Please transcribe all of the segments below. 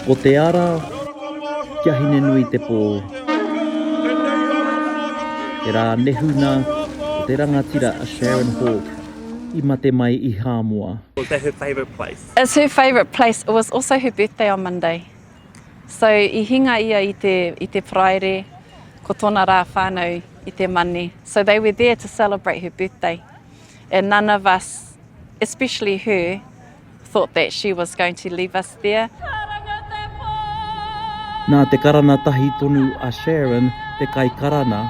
Ko te ara kia hine nui te pō. He rā nehuna o te rangatira a Sharon Hawke i mate mai i Hāmoa. Was that her favourite place? It was her favourite place, it was also her birthday on Monday. So i hinga ia i te, i te Paraire, ko tōna rā whānau i te Mane. So they were there to celebrate her birthday. And none of us, especially her, thought that she was going to leave us there. Nā te karana tahi tonu a Sharon te kai karana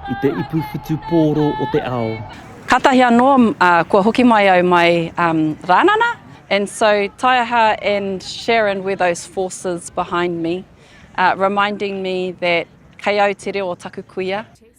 i te ipu whutu pōro o te ao. Kātahi anō, uh, kua hoki mai au mai um, Rānana, and so Taiaha and Sharon were those forces behind me, uh, reminding me that kei au te reo o taku kuia.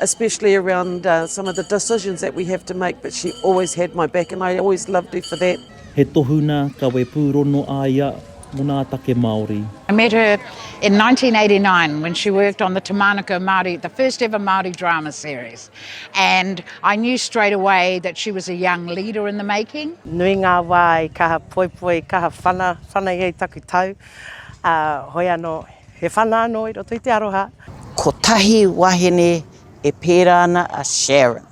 especially around uh, some of the decisions that we have to make, but she always had my back and I always loved her for that. He tohuna kawe pūrono a ia mō nā take Māori. I met her in 1989 when she worked on the Te Mānuka Māori, the first ever Māori drama series. And I knew straight away that she was a young leader in the making. Nui ngā wā i kaha poipoi, kaha whana, whana i taku tau. Uh, hoi ano He whana anō i roto i te aroha. Kotahi wahine e pērā ana a Sharon.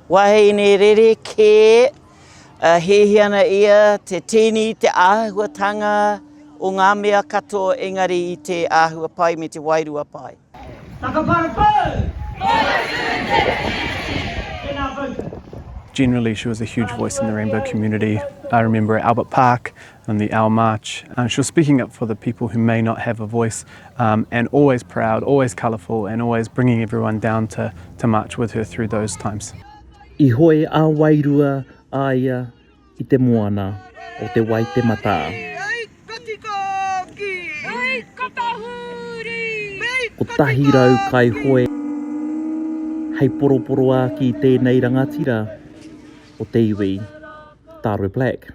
Wahine rerekē, ā, hēhē ana ia, te tini, te āhuatanga o ngā mea katoa engari i te āhua pai me te wairua pai. Whakaparapau! Tēnā koutou. Generally she was a huge voice in the rainbow community. I remember at Albert Park, on the our march and she was speaking up for the people who may not have a voice um and always proud always colourful and always bringing everyone down to to march with her through those times I hoe a wairua a ia i te moana o te Waitematā. Kotahi rau kai hoe hei poroporoāki i tēnei rangatira o te iwi Tāroi Black.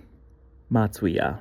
Mātuia.